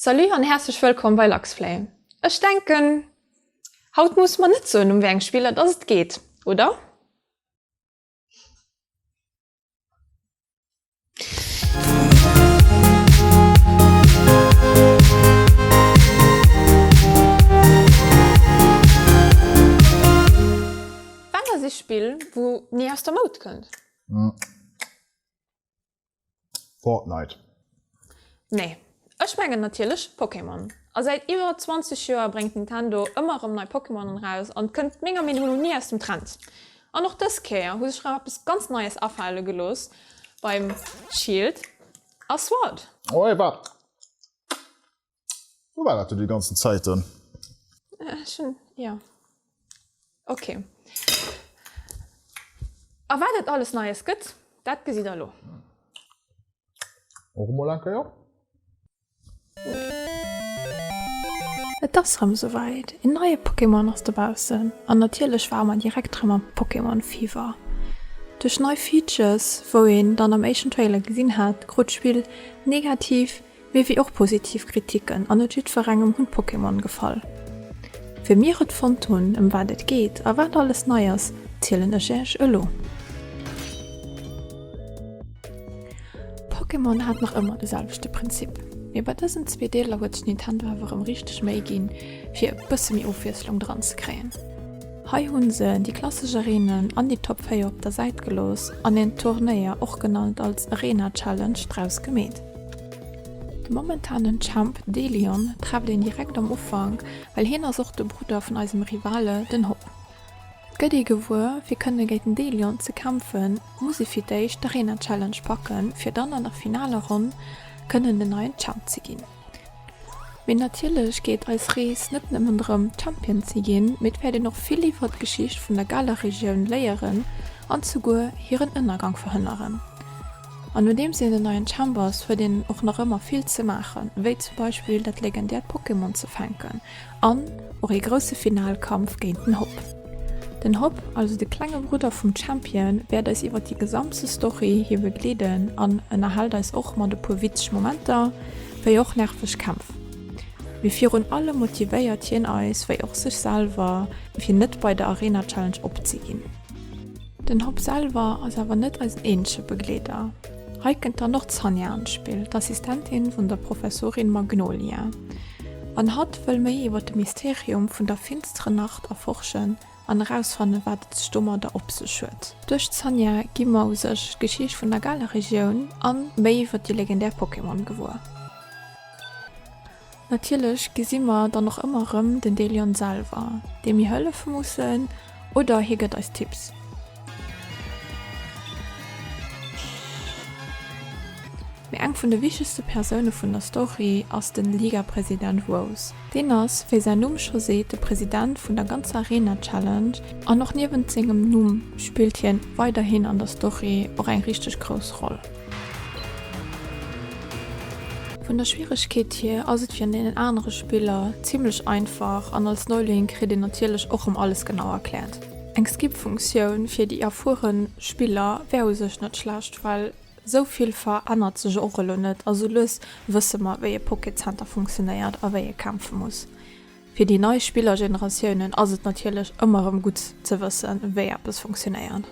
Salut an härzlech wëllkomm bei Luxflay. Ech denken haut musse mer net soen um wéi eng Spiller dass et geet, oder? Wat ass ee Spill wou ni aus der Moud kënnt? Fortnite. Nee. Ech mengen natierlech Pokémon. A säit iwwer 20 Joer bréngt Nintendo ëmmer erëm nei Pokémonen eraus an kënnt menger Meenung no ni aus dem Trend. An och dës Kéier hu sech rem eppes ganz Neies afale gelooss beim Shield a Sword. Oh, ewell. Wou war dat du déi ganzen Zäiten? Äh, ech hun, ja. Okay. A wat et alles Neies gëtt, dat gesitt der elo. Och emol eng Kéier? Et ass rem souwäit, een neie Pokémon ass dobaussen an natierlech ware mer direkt rem am Pokémon Fever. Duerch nei Features wou een dann am éischten Trailer gesinn hat, krut d'Spill negativ Mee wéi och positiv Kritiken, an net jiddwerengem hunn d'Pokémon gefall. Wéi mir et fonnt hunn, ëm wat et geet a wat alles nei ass, zielen ech Äech elo. Pokémon hat nach ëmmer de selwechte Prinzip, mee bei dësen zwee Deeler huet sech Nintendo awer rëm richteg Méi ginn, fir e bësse méi Ofwiesslung dran ze kréien. Hei hu se déi klassesch Areenen an déi Top 4 op der Säit gelooss an en Turnéier, och genannt als Arena Challenge, draus gemeet. De momentanen Champ Delion trefft een direkt am Ufank, well hien ass och de Brudder vun eisem Rivale den Hop. Et gëtt ee gewuer, fir kënne géint den Delion ze kämpfen, muss ee fir d'éischt d'Arena Challenge packen, fir dann an der finaler Ronn kënnen den neien Champ ze ginn. Mee natierlech geet eis Rees net nëmmen drëm Champion ze ginn, mee et wäert een och vill iwwert d'Geschicht vun der Galer Regioun léieren an souguer hiren Ënnergang verhënneren. An nodeems een en neien Chamber ass, huet een och nach ëmmer vill ze maachen, wéi zum Beispill dat legendäert Pokémon ze fänken an och ee grousse Finalkampf géint den Hop. Den Hop, also de klenge Brudder vum Champion, wäert eis iwwer déi gesamte Story hi begleeden an ënnerhält eis och mat e puer witzeg Momenter, wéi och nerveg Kämpf. Mee virun allem motivéiert hien eis, wéi och sech selwer, fir net bei der Arena Challenge opzeginn. Den Hopp selwer ass awer net eisen eenzege Begleeder. Hei kënnt dann och d'Sanja an d'Spill, d'Assistentin vun der Professorin Magnolia. An hatt wëll méi iwwer de Mysterium vun der finsteren Nacht erforschen an erausfannen, wat et sech domadder op sech huet. Duerch d'Sanja gi mer u sech d'Geschicht vun der Galar-Regioun an méi iwwer déi legendär Pokémon gewuer. Natierlech gesi mer dann och ëmmer erëm den Delion selwer, deem mir hëllefe mussen, oder hie gëtt eis Tipps. Mee eng vun de wichtegste Persoune vun der Story ass den Ligapresident Rose. Deen ass, wéi säin Numm scho seet, de President vun der ganzer Arena Challenge, an och niewent sengem Numm spillt hien weiderhin an der Story och eng richteg grouss Roll. Vun der Schwieregkeet hier ass et wéi an deenen anere Spiller zimmlech einfach an als Neuling kritt een natierlech och rëm alles genau erkläert. Eng Skip Funktioun fir déi erfueren Spiller wär u sech net schlecht, well sou vill verännert sech och elo net a sou lues wësse mer wéi e Pocket Center funktionéiert a wéi ee kämpfe muss. Fir déi nei Spillergeneratiounen ass et natierlech ëmmer erëm gutt ze wëssen, wéi eppes funktionéiert.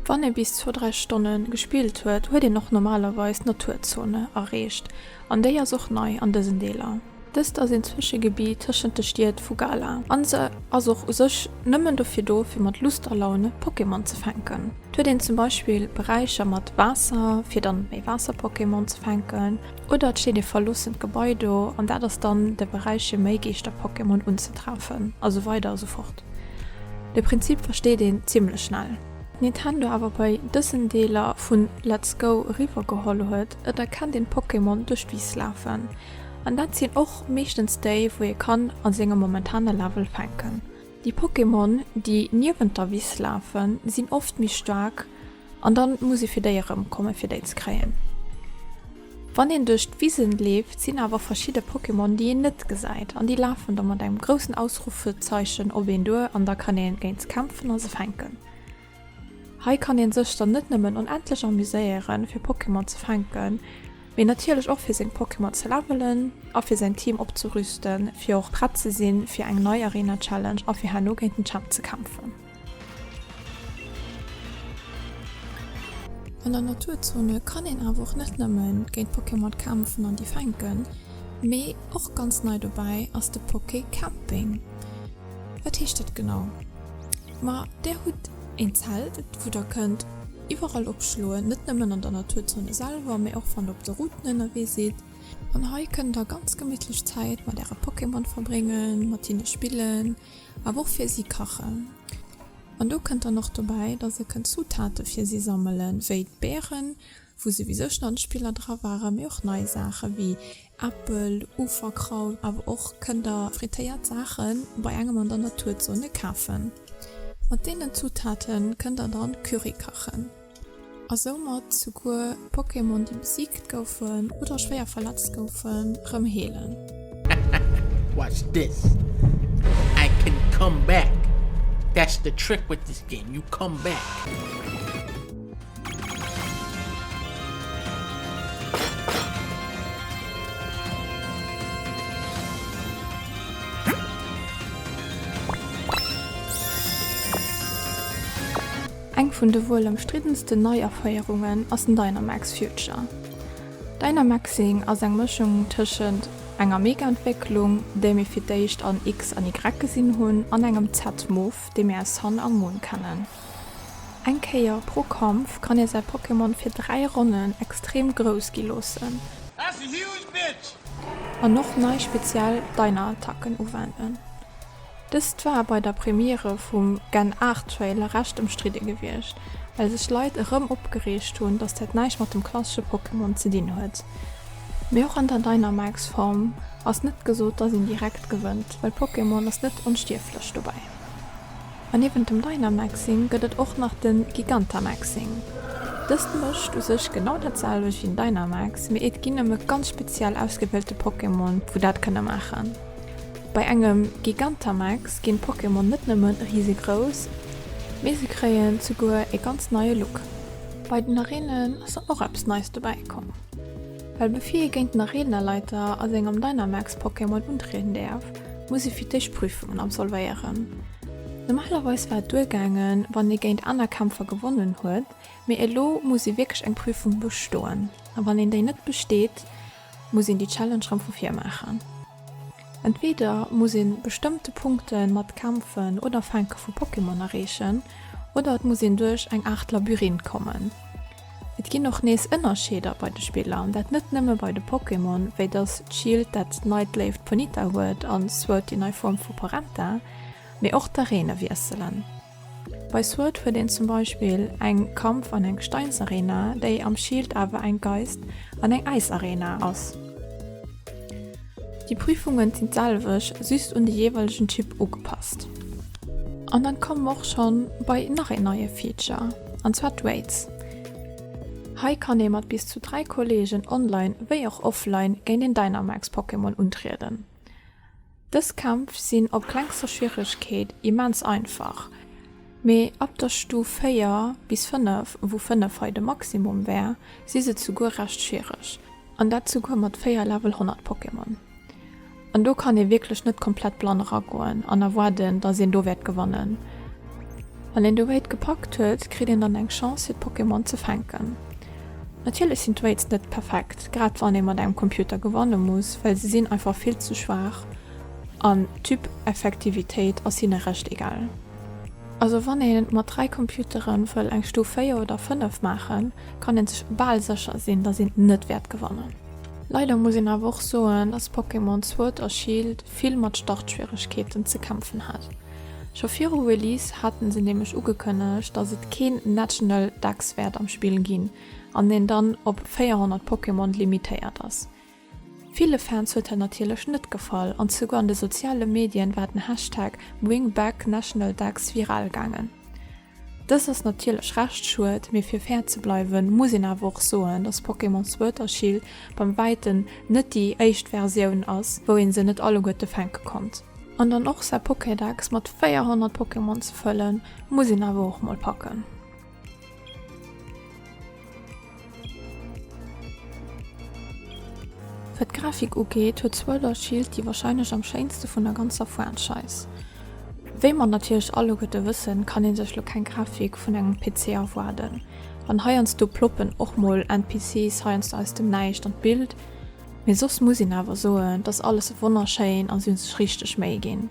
Wann ee bis zwou, dräi Stonne gespillt huet, huet een och normalerweis d'Naturzone erreecht, an déi ass och nei an dësen Deeler. Dëst ass een Zwëschegebitt tëschent de Stied vu Galar an se ass och u sech nëmmen dofir do, fir mat Lust a Laun Pokémon ze fänken. Et huet een zum Beispill Beräicher mat Waasser, fir dann méi Waasser-Pokémon ze fänken. Oder et steet ee verloossent Gebai do, an dat ass dann de Beräich fir méi Geeschter-Pokémon unzetreffen, a sou weider a sou fort. De Prinzip versteet een zimmlech schnell. Nintendo awer bei dësen Deeler vun Let's Go eriwwer geholl huet, et erkennt een d'Pokémon duerch d'Wiss lafen, an dat sinn och meeschtens déi wou ee kann a sengem momentane Level fänken. Déi Pokémon déi niewent der Wiss lafen sinn oft méi staark, An dann muss ee fir déi erëm kommen fir déi ze kréien. Wann een duerch d'Wisen leeft sinn awer verschidde Pokémon déi een net gesäit an déi lafen da mat engem groussen Ausruffezeichen op een duer an da kann een géint se kämpfen a se fänken. Hei kann een sëch dann net nëmmen onendlech amuséieren fir Pokémon ze fänken, mee natierlech och fir seng Pokémon ze levelen a fir säin Team opzerüsten fir och prett ze sinn fir eng nei Arena Challenge a fir herno géint den Champ ze kämpfen. An der Naturzone kann een awer och net nëmmen géint d'Pokémon kämpfen an déi fänken, mee och ganz nei dobäi ass de Pokécamping. Wat heescht dat genau? Ma der hutt een Zelt wou der kënnt iwwerall opschloen, net nëmmen an der Naturzone selwer, mee och wann der op de Routen ënnerwee sidd. An hei kënnt der ganz gemittlech Zäit mat äre Pokémon verbréngen, mat hinne spillen. awer och fir si kachen. An do kënnt dann och dobäi, dass e kënnt Zutate fir si sammelen, wéi d'Beeren, wou se wéi sech dann d'Spiller dra waren, mee och nei Saache wéi Äppel, Uferkraut, awer och kënnt der frittéiert Saachen bei engem an der Naturzone kafen. Mat deenen Zutate kënnt der dann Curry kachen. a soumat souguer Pokémon déi besiegt goufen oder schwéier verletzt goufen, rëm heelen. Hahaha watch this, I can come back, that's the trick with this game, you come back. Eng vun de wuel ëmstriddensten Neiaféierungen ass den Dynamax Future. Dynamaxing ass eng Mëschung tëschent enger Mega-Entwécklung, déi mir fir d'éischt an X an Y gesinn hunn, an engem Z-Move, dee mir aus Sun a Moon kennen. Eng Kéier pro Kampf kann ee säi Pokémon fir 3 Ronnen extrem grouss gi loossen an och nei speziell Dynaattacken uwenden. Dëst war bei der Premiere vum Gen Art Trailer recht ëmstridde gewiescht, well sech Leit erëm opgereegt hunn, datt dat näischt mat dem klassesche Pokémon ze dinn huet. Mee och an der Dynamax Form ass net gesot, datt een direkt gewënnt, well Pokémon ass net onstierflech. Dobäi, an niewent dem Dynamaxing gëtt et och nach de Gigantamaxing. Dëst mécht u sech genau dat selwecht wéi den Dynamax, mee et ginn nëmme ganz speziell ausgewielte Pokémon, wou dat kënne maachen. Bei engem Gigantamax ginn d'Pokémon net nëmme risegrouss, mee se kréien zuguer ee ganz neie Look. Bei den Areenen ass dann och eppes Neist dobäi komm, well bevir ee géint den Areenaleiter a sengem Dynamax-Pokémon untrieden däerf, muss ee fir d'éischt Prüfungen absolvéieren. Normalerweis war et duergaangen, wann ee géint aner Kämpfer gewonnen huet, mee elo muss ee wierklech eng Prüfung bestoen, a wann een déi net besteet, muss een déi Challenge rëm vu vir maachen. Entweeder muss ee bestëmmte Punkte mat Kämpfen oder Fänke vu Pokémon erreechen, oder et muss een duerch eng Aart Labyrinth kommen. Et ginn och nees Ënnerscheeder bei de Spiller, dat net nëmme bei de Pokémon, wéi dass d'Schildt dat neit Léift Ponyta huet a Sword déi nei Form vu Porenta, mee och d'Areene wiesselen. Bei Sword huet een zum Beispill eng Kampf an eng Gesteinsarena, déi am Shield awer eng Geist an eng Äisarena ass. Déi Prüfungen sinn d'selwech, just un de jeeweilegen Typ ugepasst. An dann komme mer och schonn bei nach een neie Feature, an zwar d'Raids. Hei kann ee mat bis zu 3 Kolleegen online wéi och offline géint een Dynamax-Pokémon untrieden. Dës Kämpf sinn op klengster Schwieregkeet immens einfach, mee ab der Stuf 4 bis 5, wou 5 hei de Maximum wär, si se zuguer recht schwiereg, an dat zuguer mat 4 Level 100 Pokémon. An do kann ee wierklech net komplett blann eragoen an erwaarden, datt een do wäert gewannen. Wann een dobäi d'Gepackt huet, kritt een dann eng Chance fir d'Pokémon ze fänken. Natierlech sinn d'Weights net perfekt, grad wann ee mat engem Computer gewanne muss, well se sinn einfach vill ze schwaach an d'Typ-Effektivitéit ass hinne recht egal. Also wann ee mat 3 Computere wëll eng Stuf 4 oder 5 maachen, kann ee sech bal sécher sinn, dass een net wäert gewannen. Leider muss een awer och soen, dass Pokémon Sword a Shield vill mat Startschwieregkeeten ze kämpfen hat. Scho viru Release haten se nämlech ugekënnegt, dass et keen National Dex wäert am Spill ginn an een dann op 400 Pokémon limitéiert ass. Ville Fans huet dat natierlech net gefall an souguer an de soziale Medien war den Hashtag BringBackNationalDex viral gaangen. Dëst ass natierlech recht schued, mee fir fair ze bleiwen muss een awer och soen, dass Pokémon Sword a Shield beim wäiten net déi éischt Versioun ass, wou een se net alleguerte fänke konnt. An dann och säi Pokédex mat 400 Pokémon ze fëllen, muss een awer och mol packen. Wat d'Grafik ugeet, huet Sword or Shield déi warscheinlech am schéinste vun der ganzer Franchise. Wéi mer natierlech alleguerte wëssen, kann ee sech lo keng Grafik vun engem PC erwaarden. An heiansdo ploppen och mol NPCs heiansdo aus dem Näischt an d'Bild, mee soss muss een awer soen, dass alles wonnerschéin an se hu sech richteg Méi ginn.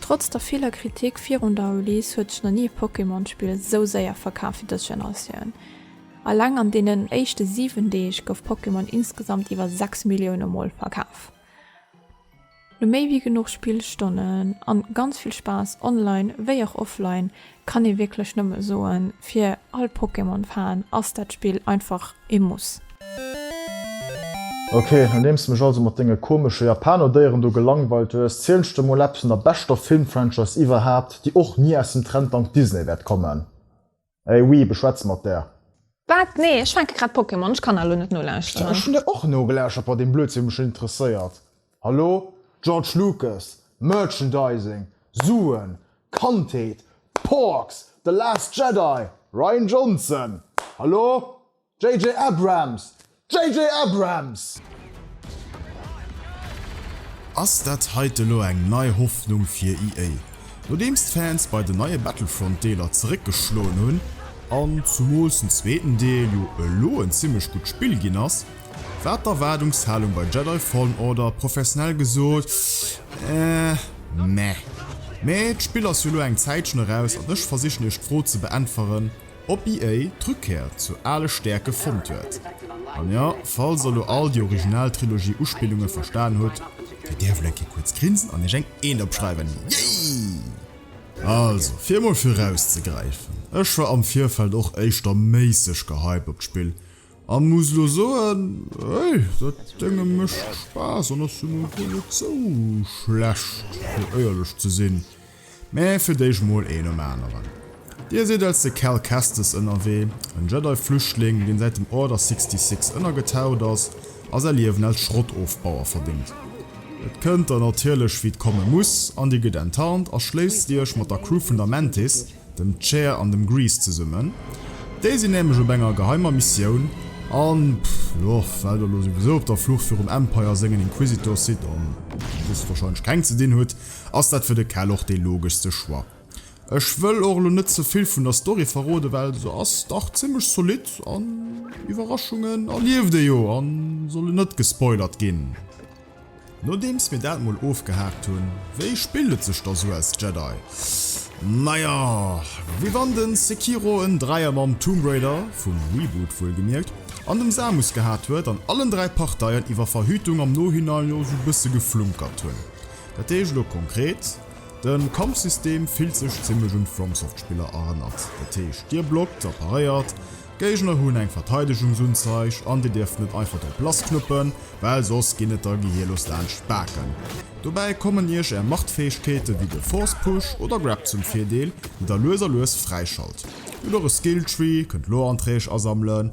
Trotz der viller Kritik virun der Release huet sech nach ni e Pokémon-Spill esou séier verkaf wéi dës Generatioun. Alleng an deenen éischte 7 Deeg gouf Pokémon insgesamt iwwer 6 Millioune Mol verkaf. No méi wéi genuch Spillstonnen an ganz vill Spaass online wéi och offline Kann ee wierklech nëmme soen, fir all Pokémon-Fan ass dat Spill einfach ee Muss. Ok, nodeems de mech also mat denge komesche Japano-Déieren do gelangweilt hues, ziel ech der mol eppes vun der beschter Film-Franchise iwwerhaapt, déi och ni aus dem Trend dank Disney wäert kommen. Ey Weeb, ech schwätze mat der! Wat? Nee, ech fänke grad Pokémon, ech kann elo net nolauschteren. Ech hunn der och nogelauschtert, bei deem Blödsinn mech interesséiert. Hallo? George Lucas, Merchandising, Suen, Kandheet, Porks, The Last Jedi, Rian Johnson, Hallo? JJ Abrams, JJ Abrams! Ass dat heite lo eng nei Hoffnung fir EA? Nodeems d'Fans bei den neie Battlefront Deeler zeréck geschloen hunn, an zumools den zweeten Deel jo elo en zimmlech gutt Spill ginn ass, war d'Erwaardungshalung bei Jedi Fallen Order professionell gesot eh meh. Mee d'Spill ass jo lo eng Zäitchen eraus an ech versichen iech d'Fro ze beäntweren, Op EA d'Rückkehr zu ale Stärke fonnt huet, an jo, falls der lo all déi Original Trilogie Uspillungen verstan hutt, fir där wëll eng Kéier kuerz grinsen an iech eng Eent opschreiwen, yay! Also, fir emol viraus ze gräifen, ech war am Virfeld och éischter méisseg gehypt op d'Spill, an muss lo soen, hey, dat Dénge mécht Spaass an ass jo nun wuel net sou schlecht, fir éierlech ze sinn. Mä fir d'éischt mol een nom aneren. Dir sidd als de Cal Kestis ënnerwee, en Jedi-Flüchtling, deen säit dem Order 66 ënnergetaucht ass a säi Liewen als Schrottofbauer verbéngt. Et kënnt der natierlech, wéi et komme muss, an dir gëtt enttarnt a schléisst iech mat der Crew vun der Mantis, dem Chair an dem Grease zesummen. Déi sinn nämlech op enger geheimer Missioun an, jo, well der elo souwisou op der Flucht virum Empire sengen Inquisitor sidd an hochstwahrscheinlech keng ze dinn hutt, ass dat fir de Cal och dee logeschste Choix. Ech wëll och elo net ze vill vun der Story verroden, well se ass dach zimmlech zolidd an Iwwerraschungen erlieft ee jo a solle net gespoilert ginn. Nodeems mir dat mol ofgehaakt hunn, wéi spillt et sech da sou als Jedi? Naja, wéi wann de Sekiro en Dräier mam Tomb Raider, vum Reboot wuelgemierkt, an dem Samus gehat huet an allen dräi Parteien iwwer Verhütung am Nohinein jo sou bësse geflunkert hunn. Dat heescht elo konkret, de Kampfsystem fillt sech zimmlech un d'FromSoft-Spiller erënnert. Dat heescht, Dir blockt a paréiert, d'Géigner hunn eng Verteidegungsunzeig an Dir dierft net einfach drop lass knuppen, well soss ginn et der gehirlos laanscht d'Baken. Dobäi kommen Iech Är Machtfäegkeete wéi de Force Push oder Grab zum Virdeel, déi der lues a lues fräischalt. Hutt och e Skill Tree, kënnt Lore-Anträg asammelen,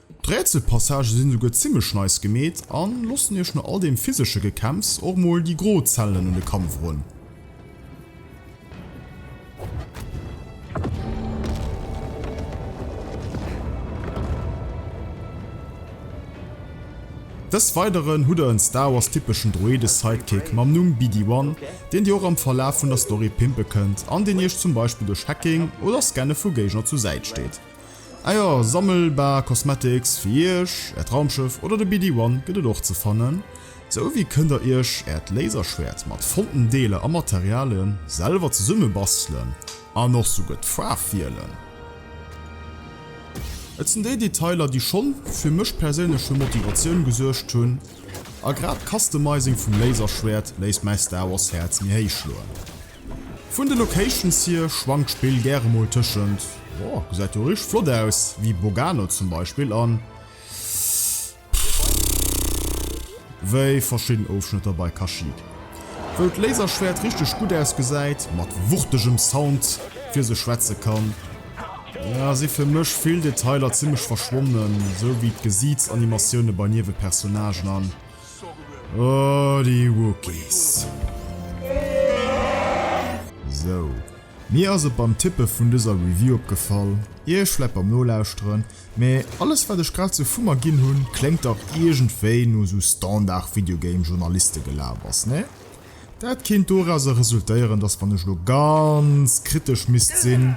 D'Rätselpassagë sinn souguer zimlech nice gemeet an lossen iech no all deem physesche Gekämpfs och mol déi gro Zellen un de Kampf erun. Des weideren hutt der en Star Wars typeschen Droide Sidekick mam Numm BD-1, deen dir och am Verlaf vun der Story pimpe kënnt an deen iech zum Beispill duerch Hacking oder Scanne vu Géigner zu Säit steet. Ah jo, sammelbar Cosmetics fir iech, äert Raumschëff oder de BD One gëtt et och ze fannen. Sou wéi kënnt der iech äert Laserschwäert mat fonnten Deeler a Materialien selwer zesumme bastelen an och souguer d'Faarf wielen. Et sinn déi Detailer déi schonn fir mech perséinlech fir Motivatioun gesuergt hunn a grad d'Customizing vum Laserschwäert léisst mäi Star Wars Häerz méi héich schloen. Vun de Locations hier schwankt d'Spill gäre mol tëschent oh gesäit jo richteg flott aus wéi Bogano zum Beispill an pff wéi verschidden Ofschnëtter bei Kashyyyk wou d'Laserschwäert richteg gutt ausgesäit mat wuchtegem Sound fir sech schwätze kann. Ass ee fir mech vill Detailer zimmlech verschwonnen, esou wéi d'Gesiitsanimatiounen bei Niewepersonnagen an Oh, déi Wookies. Sou, mir ass et beim Tippe vun dëser Review opgefall, iech vläit beim Nolauschteren, mä alles wat ech grad sou vu mer ginn hunn, kléngt dach iergendwéi no sou Standard Videogame Journalistegelabers, ne? Dat kéint dorausser resultéieren, dass wann ech lo ganz kritesch misst sinn,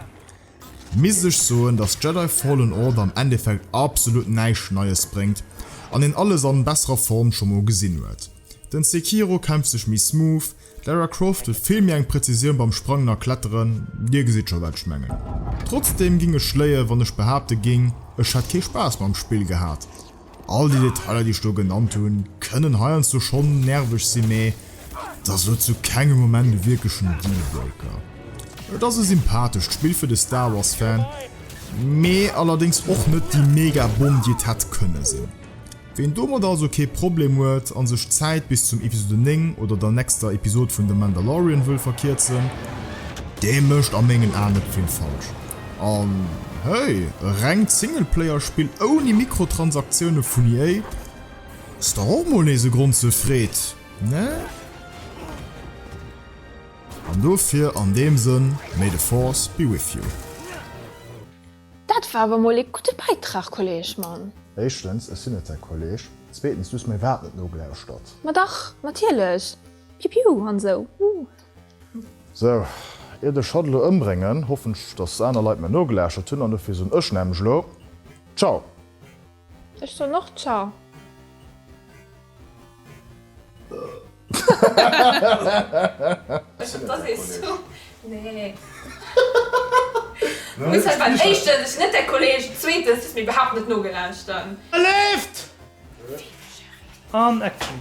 Misst ech soen dass Jedi Fallen Order am Endeffekt absolut näischt Neies bréngt an een alles an besserer Form scho mol gesinn huet. Den Sekiro kämpft sech méi smooth, d'Lara Croft huet vill méi eng Präzisioun beim Sprangen a Kletteren, dir gesitt scho wat ech mengen. Trotzdem ging ech léien wann ech behaapte ging ech hätt kee Spaass mam Spill gehat. All déi Detailer déi ech do genannt hunn, kënnen heiansdo schonn nerveg sinn, mä et ass elo zu kengem Moment e wierklechen Dealbreaker. Et ass e sympathescht Spill fir de Star Wars Fan, mä allerdéngs och net déi mega Bomm déi et hätt kënne sinn. Ween domat also kee Problem huet an sech d'Zäit bis zum Episode 9 oder der nexter Episode vun The Mandalorian wëll verkierzen, dee mécht a mengen Aen net vill falsch. An hey, e rengt Singleplayer-Spill ouni Mikrotransaktiounen vun EA? Ass dach och mol nees e Grond zur Freed, ne? An dofir an deem Sënn, May the Force be with you. Dat war awer mol ee gudde Bäitrag, Kolleg Mann! Éischtens, ech sinn net säi Kolleg. Zweetens, du hues mäi Waart net nogelauschtert. Ma dach, natierlech! Piu piu an esou. Sou, iert ech hatt elo ëmbréngen, hoffen ech dass aner Leit mir nogelauschtert hunn, an dofir soen ech nämlech elo Ciao! Ech soen och Ciao! Leeft! An Action!